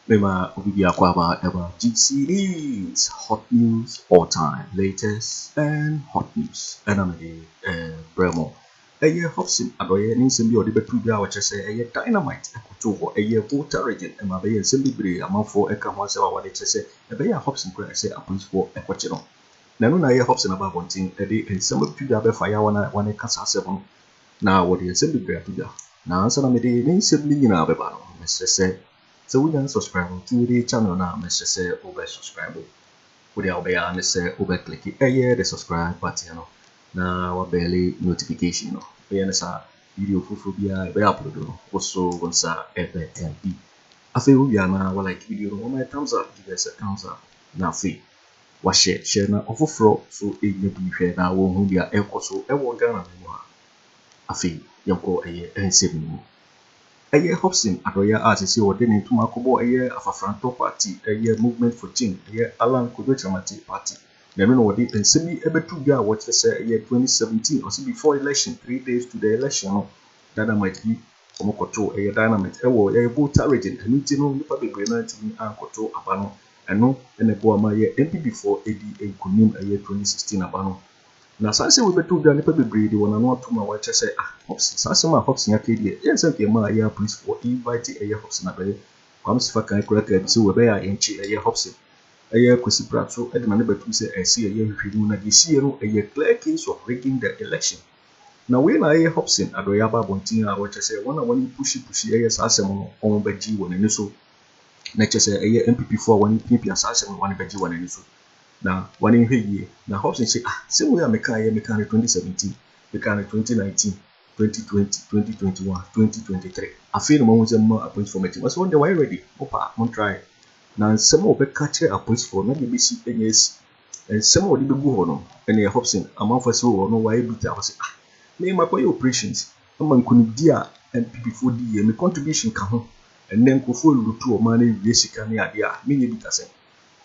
Mema obi biako aba ɛba GCDs hot news all time latest and hot news ɛna mede ɛbrɛ mo. Ɛyɛ Hobson adɔeɛ ne nsɛm bi a ɔde bɛto dwa a ɔkyerɛ sɛ ɛyɛ dynamite ɛkotoo hɔ. Ɛyɛ Volta Region ɛma ɛbɛyɛ nsɛm bebree amanfoɔ ɛka ho asɛm a wɔde kyerɛ sɛ ɛbɛyɛ a Hobson kura ɛsɛ apolisifoɔ ɛkɔkye no. Na ɛno na ɛyɛ Hobson aba abɔnten ɛde nsɛm ɛto dwa bɛfa yɛ wɔn a wɔɛka saa asɛm no na wɔde nsɛm bebree ato dwa. Na ansa na mede ne nsɛm no nyinaa bɛba no mɛsrɛ sɛ sɛ wonya nsubscribe nti wode channel no a mɛsrɛ sɛ wobɛ subscribe. Wode a wobɛyɛ ara ne sɛ wobɛ click ɛyɛ the subscribe button no. na wabɛɛle notification no, woyɛ no saa a, video foforɔ biara ɛbɛyɛ upload no, woso wo nsa ɛbɛka bi. Afei wowie a na wa like video no, wama yɛ thumbs up, give us a thumbs up, na afei wa share share na ɔfoforɔ so ɛnya bi hwɛ na wɔhu deɛ ɛrekɔ so ɛwɔ Ghana no mu a. Afei yɛnkɔ ɛyɛ nsɛm no mu. Ɛyɛ Hobson Adɔyɛ a sɛsɛ ɔde ne ntoma akɔbɔ ɛyɛ Afafrantɔ party ɛyɛ Movement for Change ɛyɛ Allan Kwadwo Kyeremate party. Na ɛno na wɔde nsɛm yi bɛto dwa a wɔkyerɛ sɛ ɛyɛ twenty seventeen ɔse before election three days to the election no dynamite bi wɔn kɔtoo ɛyɛ dynamite ɛwɔ ɛyɛ Volta region ɛno nti no nipa bebree no antumi ankɔtoo aba no ɛno na ɛboa ma yɛ NPP foɔ ɛdi nkunim ɛyɛ twenty sixteen aba no na saa nsɛm wei bɛto dwa nipa bebree de wɔn ano atom a wɔkyerɛ sɛ ah Hobson saa asɛm a Hobson aka yi deɛ ɛyɛ nsɛm nka ɛmaa ɛyɛ apolisifoɔ invite ɛyɛ Hobson abɛyɛ Kwame Sefa kan kura kaa bi sɛ wɔ ɛbɛyɛ a yɛnkye ɛyɛ Hobson Ɛyɛ Kwesi Prapso de nane bɛtom sɛ ɛsɛ yɛyɛ nhwehwɛmu na deɛ ɛsiiɛ no ɛyɛ clear case of rigging the election. Na wei na ɛyɛ Hobson Adoye aba abɔnten a ɔkyɛ sɛ wɔn a wɔn ne pushi pushi ɛyɛ saa asɛm no wɔn bɛgye wɔn ani so na ɛkyɛ sɛ ɛyɛ NPP foɔ a wɔn piapia saa asɛm no wɔn bɛgye wɔn ani so na wɔn nhwɛ yie. Na Hobson se ah sɛm wei a mekaeɛ mekaa no 2017, mekaa no 2019, 2020, 2021, 2023 afei na moahu sɛ moma appoint foɔ mɛgye wɔn sɛ wɔn deɛ wɔayɛ ready mo paa mo ntraeɛ. Na nsɛm a wɔbɛka akyerɛ apolisifoɔ no, na deɛ ɛbɛsi anya asi. Nsɛm a wɔde bɛgu hɔ no, ɛneɛ Hobson, amanfoɔ ase wɔ hɔ no, wayɛ bitter, ɔse, Ah, me, makɔyɛ operations ama nkunimdie a NPPfoɔ di yie, me contribution ka ho, ɛnnɛ nkurɔfoɔ rewuru to ɔman no awie sika ne adeɛ a, menyɛ bitter sɛn?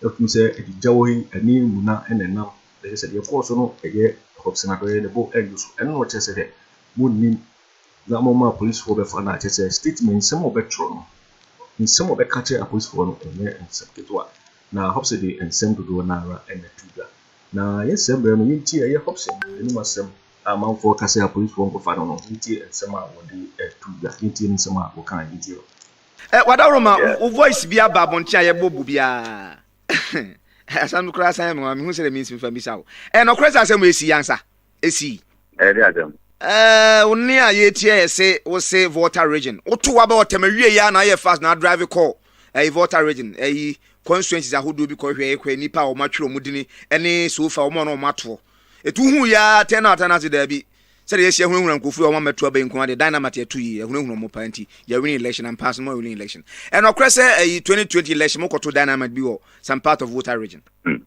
Ɛfiri sɛ agyigya wɔ ha yi, ani mmuna na ɛnam, na kyerɛ sɛ deɛ ɛkɔɔ so no, ɛyɛ Hobson adɔeɛ, ne bo nnwo so, ɛno na ɔkyerɛ sɛ dɛ, monnim na wɔma apolisifoɔ bɛfa no a, kyerɛ sɛ statement, nsɛm a wɔbɛtwerɛ no, nsɛm a wɔbɛka akyerɛ apolisifoɔ no, ɛnyɛ nsɛm ketewa. Na Hobson de nsɛm dodoɔ no ara na ɛto dwa. Na yɛ saa mmerɛ no, yɛntie, ɛyɛ Hobson anom asɛm a amanfoɔ reka sɛ apolisifoɔ nkɔfa no no, yɛntie nsɛm a wɔde to dwa, yɛntie ne nsɛm a ɔka, yɛntie no. Eh Wadawuroma wo voice bi aba abɔnten a yɛbɔ bu biara asɛm no koraa san yɛ me nwanwa mehu sɛdeɛ mensi mfa mmisa wo ɛyɛ nɔkorɛ sɛ asɛm wei sii ansa? esi. Ɛyɛ de asɛm. Ɛɛ wo ne a yɛretia yɛ se wo se Volta region woto waba ɔtɛm awie yɛ a na ayɛ fast na adrive kɔ ɛyi Volta region ɛyi constituencies ahodoɔ bi kɔ hwɛ kɔ nipa a wɔn atwerɛ wɔn dini ɛne sofa wɔn a wɔn atoɔ etu hu yɛ a tɛn na ata na ase daabi sɛdeɛ yɛsi ahunahuna nkurɔfoɔ wɔn amɛto abɛn nko adeɛ dynamite ɛto yi ahunahuna wɔn paa nti yɛ winning election and pass mo winning election ɛnɔkorɛ sɛ ɛyi 2020 election mo kɔto dynamite bi wɔ some part of Volta region. Hmm.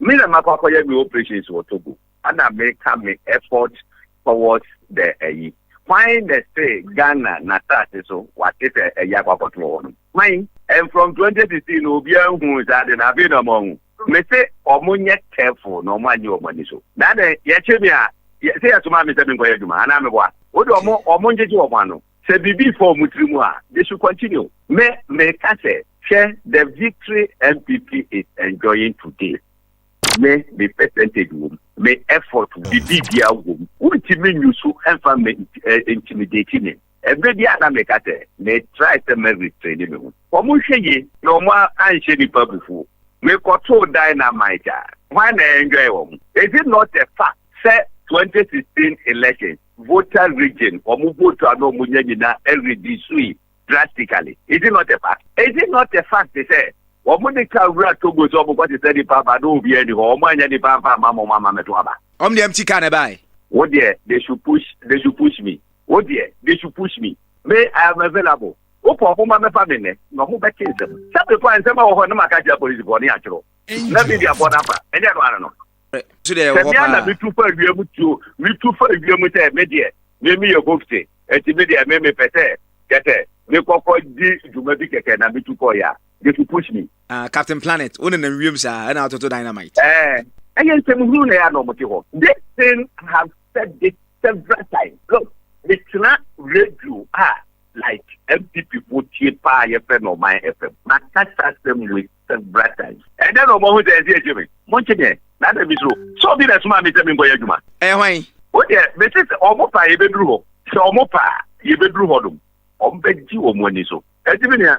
Me na makɔ akɔyɛ me operations wɔ Togo ɛna meka me effort towards the ayi. Hwan na ɛse Ghana n'asase so wate sɛ ayi akɔ akɔto wɔ hɔ nom? Hwan? And from twenty sixteen no obiara nhuu saa ade no afei na wɔahu. Mese wɔn nyɛ careful na wɔn annye wɔn ani so. Na adɛn? Yɛkye me a, se yɛsoma me sɛ menkɔyɛ adwuma anaa meboa? Wode wɔn wɔn ngyegye wɔn ano. Sɛ biribi fɔɔ mo tiri mu a, they should continue. Me, meka sɛ, hwɛ the victory NPP is enjoying today. Me, me percentage wom, me effort, biribibiaa wom. Wontumi nyu so mfa me intimidate me. Ɛberɛ biaa na meka sɛ, me try sɛ mɛ restraini me ho. Wɔn nhwɛ yie na wɔn anhyɛ nipa abufuo. Me kɔtoo dynamite a, hwan na enjoy wɔn? Is it not a fact sɛ 2016 elections Volta region wɔn vote a na wɔn nya nyinaa ɛredisui drastically is it not a fact is it not a fact sɛ wɔn de car wura Togo sɛ wɔn kɔ sesa nipa aba na obiara ni hɔ wɔn anya nipa nfa ama wɔn ama mɛto aba. Wɔn de empty car na ɛbaae. Wo deɛ they should push they should push me wo deɛ they should push me me I am available wopɛ wɔn ma mɛfa me nnɛ na wɔn bɛte nsɛm sɛ before nsɛm a wɔ hɔ na ma ka kyerɛ polisifoɔ ne atwerɛ na media foɔ na fa ɛnyɛ no ara no. sɛmea na metu fa awiam tuo metu fa awiam sɛ me deɛ me me yɛ hofte ɛti me deɛ me mepɛ sɛ kɛsɛ me kɔkɔ di dwuma bi kɛkɛ na metu kɔ ya they should push me. Uh, Captain Planet, wo nenam wiem saa ɛna atoto dynamite. Ɛɛ, ɛyɛ nsɛm hunu na ɛyɛ na ɔmo te hɔ. This thing I have said this several times. Look, metena radio a like MPP fo tie paa yɛfrɛ no Ɔman FM. Makasa asɛm wei Bratai. Ɛdɛn na wɔahu sɛ ɛnsɛ yɛtie me? Monkye me ɛ, na adɛn bi so? Sɛ obi na ɛsomaa me sɛ menkɔyɛ adwuma. Ɛyɛ hwan? Wo deɛ, mese sɛ wɔn pɛ a, yɛbɛduru hɔ. Sɛ wɔn pɛ a, yɛbɛduru hɔ nom. Wɔbɛgye wɔn ani so. Enti me nua,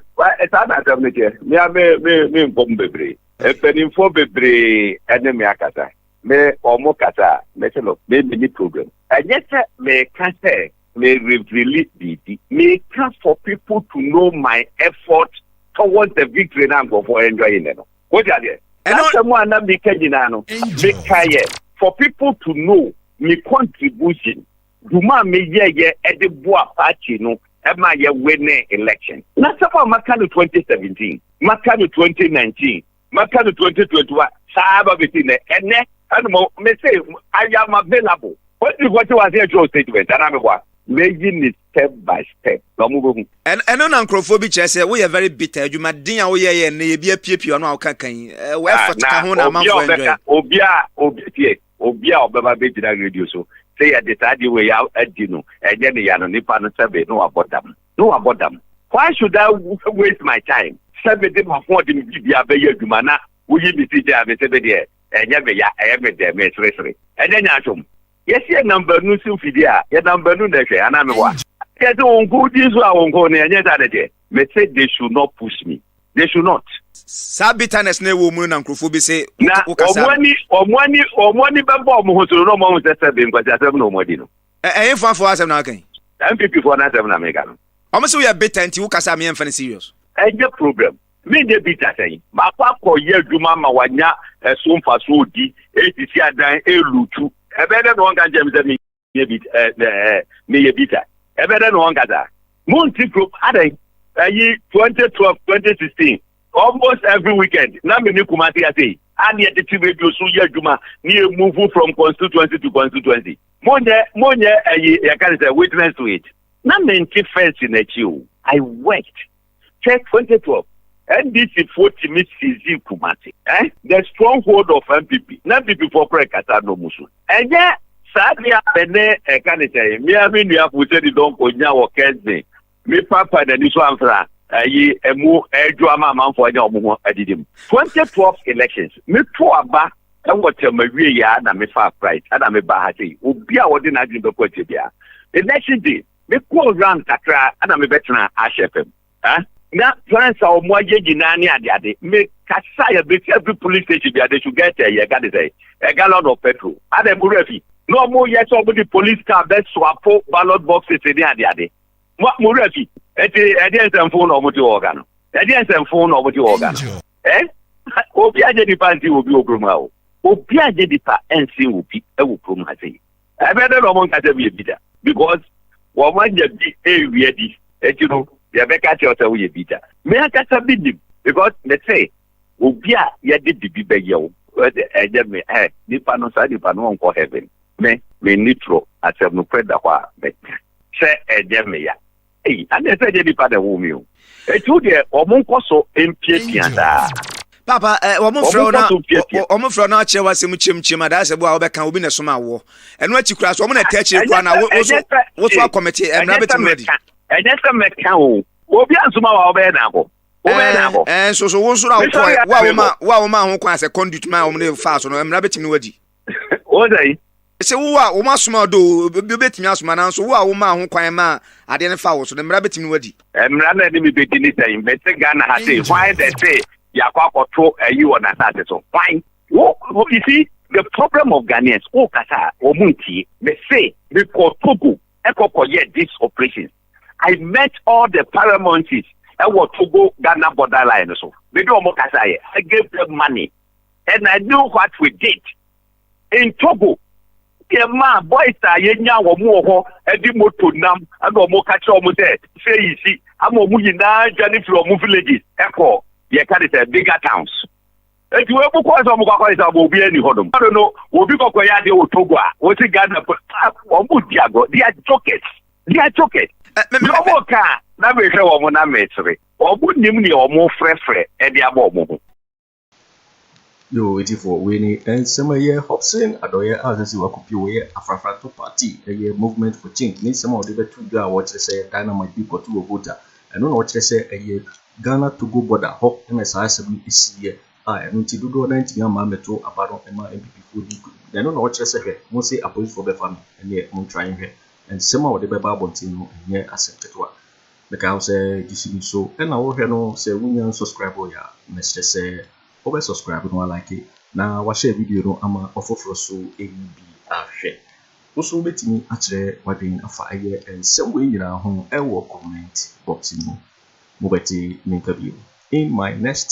saa na asɛm no teɛ. Me ara me, me, me nkɔ mu bebree. Mpanimfoɔ bebree ne me akasa. Me, wɔn kasa a, mese no, me menni problem. Ɛnyɛ sɛ meka sɛ Me reveali biribi. Meka for people to know my effort towards the victory na nkurɔfoɔ enjoy nnɛ no. Wote aseɛ? Ɛno- N'asɛm a na meka nyinaa no, Angel. mekaeɛ for people to know me contribution, dwuma a meyɛeɛ de boa party no ma yɛwinee election. N'asɛm a maka no 2017, maka no 2019, mɛpɛ no twenty twenty one saa aba bɛsi nɛ ɛnɛ ɛna mo me se I am available wɔn ti kɔ te wɔ aseɛ kyerɛw statement anaa me boa mɛyi ne step by step na wɔn bɛhu. Ɛn ɛno na nkurɔfoɔ bi kyerɛ sɛ woyɛ very bitter adwuma den a woyɛ yɛ nnɛ yɛ bi apiepie ɔno a woka kan yi wɔ ah, effort ka ho na amanfoɔ enjoy. obi a obi tie obi a ɔbɛba bɛgyina radio so sɛ yɛde saa deɛ wei adi no ɛnyɛ ne ya no nipa no sɛbe na wabɔ dam. na wabɔ dam. Why should I waste my time sɛ mede m'ahoɔden mu biribiara bɛyɛ adwuma na woyi me ti gyaa me sɛ me deɛ ɛnyɛ me ya, ɛyɛ me dɛ, meseresere. Ɛnyɛ nyaatwom. Yɛse yɛnam baanu so mfidie a, yɛnam baanu na ɛhwɛ, anaa meboa? Ɛnkyɛ sɛ wo nko wodi nso a wo nko no, ɛnyɛ saa na ɛteɛ? Mese they should not push me. They should not. Saa bitterness no ɛwɔ mu no na nkurɔfoɔ bi se wokasa. Na wɔn ani bɛbɔ wɔn ho so no na wɔahu sɛ sɛbe nkwasiasɛm na wɔadi no. Ɛyɛ fo afo asɛm na waka yi. NPP foɔ no asɛm na meka no. Ɔmo se woyɛ bitter nti wo kasa a meɛnfa no serious. Ɛnyɛ problem. Menyɛ bitter sɛn? Makɔ akɔ yɛ adwuma ama wanya ɛso mfasoɔ ɔdi, ɛresisi adan, ɛrelutu. Ɛbɛyɛ dɛn na wɔnka nkyerɛ me sɛ me yɛ bitter ɛɛ ɛɛ meyɛ bitter? Ɛbɛyɛ dɛn na wɔnka saa? Monte kurom adɛn? Ɛyi 2012, 2016 Almost every weekend, na me ne Kumasi Asei, a ne yɛde te radio so yɛ adwuma ne yɛ move from constituency to constituency. Monyɛ, monyɛ ayi, yɛka ne sɛ witness to it. Na mente fence n'akyi o. I worked till 2012. NDC foɔ tumi seize Kumasi. Eh? The stronghold of NPP. Na NPP foɔ kora kasa no mu so. Ɛnyɛ saa deɛ a me ne ɛka ne sɛ, mmea me nuafo sɛ de dɔnkɔ nya wɔ Kensington. Me papa n'ani so amfra ayi ɛmu ɛredwo ama amanfoɔ anya wɔn ho adidi mu. 2012 elections me to aba ɛwɔ term awie yɛ a na me faa flight ɛna me baa ha sei obi a ɔde n'adwene bɛkɔ akyire bia election day me kɔɔ round kakra ɛna me bɛtena Ash FM eh na plans a wɔn ayɛ nyinaa ne ade ade me kasa yɛ bɛsi every police station bia they should get ɛyɛ ɛga de sɛ a gallon of petrol ɛna ɛmu rafi na wɔn yɛ sɛ wɔn de police car bɛsoapo ballot boxes ne ade ade. mo mo wura fi ɛti ɛdeɛ nsɛmfo na ɔmo te wɔ ɔga no ɛdeɛ nsɛmfo na ɔmo te wɔ ɔga no ɛ obi agye nipa nsi obi wɔ kurom ha o obi agye nipa nsi obi ɛwɔ kurom ha sɛ ɛbɛ dɛ na ɔmo nkasa bi ebi da because wɔn anya bi ewia di ɛti no yɛbɛka kyerɛ sɛ woyɛ bi da mɛ akasa bi nim because mɛ sɛ obi a yɛde bibi bɛyɛ o ɛnyɛ me ɛ nipa no saa nipa no ɔnkɔ heaven me me nitro asɛm no pɛ da hɔ a mɛ sɛ ɛnyɛ meya. Ei, adeɛ sɛ ɛnyɛ nipa na ɛwoo me o. Eti wo deɛ, wɔn nkɔ so mpiapia daa. Papa, ɛ, eh, wɔn frɛ wo na wɔn frɛ wo na akyerɛ w'asɛm kyemkyem adaasɛ bo a wɔbɛka obi na ɛsoma awoɔ. Ɛno akyi koraa so wɔn na ɛtɛ akyire koraa na woso woso akɔmete ɛmira bɛ tɛmɛ di. Ɛnyɛ sɛ mɛka o, obi asoma wa ɔbɛyɛ na abɔ. Wobɛyɛ na abɔ. Ɛɛ nso so wo nso na wokɔ wo a woma wo a woma ho kwan sɛ conduit ma wɔn de fa so no ɛmira bɛ tɛmɛ wadi. wɔn dɛ yi. sɛ wo a wɔn asoma ɔdɔ obi betumi asoma nanso wo a wɔn maa ho kwan maa adeɛ no fa wo so no mmara betumi wadi. mmara na ɛde mi bedi ne sɛn mɛsɛ ghana ha se hwan dɛ se yakɔ akɔto ayi wɔ n'asase so hwan wo you see the problem of ghanaians wo kasa wɔn mu ntie mɛsɛ mekɔ togo ɛkɔkɔ e yɛ this operation i met all the paramountries ɛwɔ togo ghana borderline so mede wɔn kasa yɛ i gave them money. and I knew what we did in Togo deɛ maa boys a yɛnya wɔn wɔ hɔ ɛde moto nam ɛna wɔn ka kyerɛ wɔn sɛ sɛ yi si ama wɔn nyinaa dwane firi wɔn villages ɛkɔ yɛ ka de sɛ bigger towns eti wɔn mu kɔɔ sɛ wɔn kɔ akɔyɛ sɛ wɔn obi ani hɔ nom ɛno no obi kɔkɔ yɛ adeɛ wɔ togo a wɔsi ghana wɔn mu di agɔ they are jokers they are jokers wɔn ka na mehwɛ wɔn na mesere wɔn nim nea wɔn frɛfrɛ ɛde abɔ wɔn ho. Yoo etifoɔ wei ni nsɛm ɛyɛ Hobson adɔyɛ a sɛ sɛ wakɔpie wɔyɛ afrafrantɔ party ɛyɛ movement for change ne nsɛm a wɔde bɛto dwa a wɔkyerɛ sɛ dynamite bi kɔto wɔ Volta ɛno na wɔkyerɛ sɛ ɛyɛ Ghana Togo border hɔ ɛna saa asɛm no ɛsiiɛ a ɛno nti dodoɔ no ntumi ama mɛto aba no ɛma MPPfoɔ di nkunim na ɛno na wɔkyerɛ sɛ hwɛ mo se apolisifoɔ bɛfa me ɛneɛ montwa nhwɛ nsɛm a wɔde bɛba abɔnten no ɛnyɛ asɛm ketewa. Meka wo sɛ gyesi bi so na wohwɛ no sɛ wonya nsɔskraiboe a mɛsrɛ sɛ wobɛ sɔskraibe no alike na wahyɛ video no ama ɔfoforɔ so ayi bi ahwɛ. Wo so wobɛtumi akyerɛ wadwen afa ɛyɛ nsɛm wei nyinaa ho wɔ comment box no mu. Mobɛte me nka bio in my next.